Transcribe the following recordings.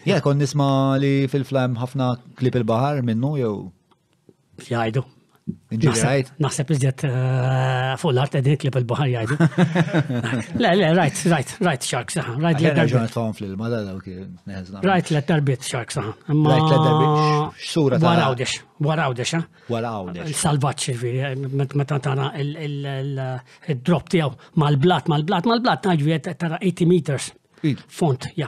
Ja, kon nisma li fil-flam ħafna klip il-bahar minnu jew. Jajdu. Ġuħsajt. Naħseb iżjed eh, fuq l-art edin klip il-bahar jajdu. Le, le, rajt, rajt, rajt shark saħan. Rajt li darbit. Għan fl-ilma, da daw kien. Rajt li darbit shark saħan. Rajt li darbit. Sura ta' Warawdex, warawdex, ha? Eh? Warawdex. Salvaċ, ġviri, eh, meta tara il-drop tijaw mal-blat, mal-blat, mal-blat, ġviri, tara 80 meters. Font, ja.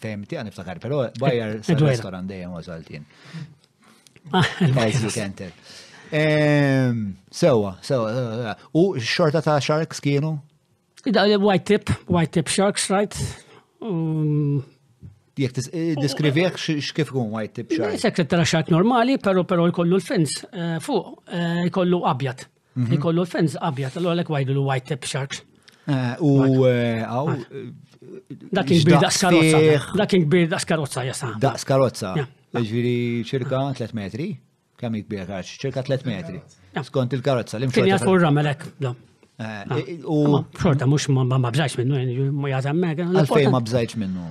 Fejm tiegħi niftakar, però bajjar eh, eh, restaurant dejjem wasaltin. Ah, As you can tell. Ehm, sewa, sewa. Eh, u xorta ta' sharks kienu? Da, white tip, white tip sharks, right? Um, Jek diskrivieħ xkif kun white tip shark? Sekret ta' shark normali, pero pero jkollu l-fins fuq, jkollu abjad. Mhm. Ikollu l-fens abjad, allura lek wajdu l-white tip sharks. Eh, u eh, għaw. Dak kbir daqs karozza. Dak kbir daqs karozza jasa. Daqs karozza. Ġviri ċirka 3 metri. Kemm kbir karċ? Ċirka 3 metri. Skont il-karozza. Kien jafu r-ramelek. Eh, u. Xorta, mux ma bżajx minnu, ma jazam mega. Għalfej ma bżajx minnu.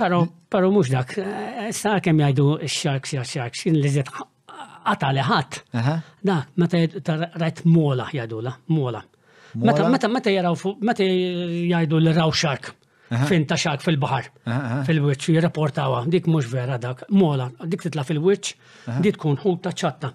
Pero, pero mux dak, sa' kem jajdu x-sharks ja sharks, jien li zed għata li ħat. Da, meta rajt mola jajdu la, mola. Meta, meta, meta jaraw, meta jajdu li raw shark, fin ta' shark fil-bahar, fil-witch, jirrapportawa, dik mux vera dak, mola, dik titla fil-witch, dik tkun ħut ta' ċatta.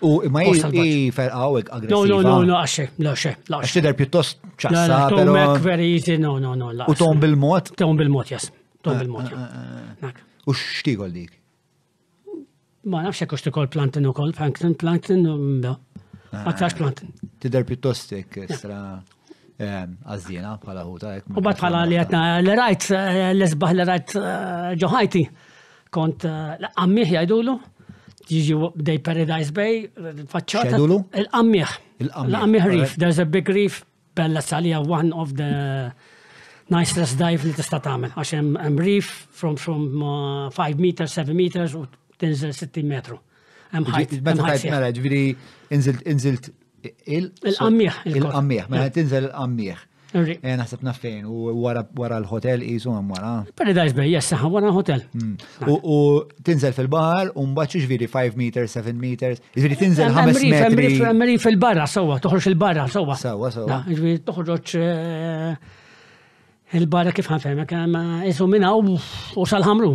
U imma hi ferqa u aggressiva. No, no, no, no, għaxe, la xe, la xe. Xider pjuttost ċassa. Tom Mac very easy, no, no, no, la. U tom bil-mod? Tom bil-mod, jas. Tom eh, bil-mod. Eh, eh, u xtigol dik? Ma nafx jekk xtikol plantin u kol, plankton, plankton, da. Ma tax plantin. Tider pjuttost jek stra għazdina bħala ħuta. U bat bħala li għatna l-rajt, l-esbaħ l-rajt ġoħajti. Kont l-qammieħ jgħidulu, jiġi bdej Paradise Bay, faċċata. Jgħidulu? Il-qammieħ. Il-qammieħ reef, there's a big reef, bella salija one of the nicest dive li tista' tagħmel, għax hemm reef from 5 uh, meters, 7 meters u tinżel 60 metru. Hemm ħajt. Meta tajt mela ġifieri inżilt inżilt il-qammieħ. Il-qammieħ, mela tinżel il-qammieħ. Eh, naħseb naffejn u wara l-hotel jisu hemm wara. Paradise Bay, jessa, wara l-hotel. Hmm. U tinżel fil-bahar u mbagħad ġifieri 5 meters, 7 meters, ġifieri tinżel 5 metri. Emri fil-barra sewwa, toħroġ il-barra sewwa. Sewwa sewwa. Ġifieri toħroġ eh, il-barra kif ħanfehmek, eh, isu minna u sal-ħamru.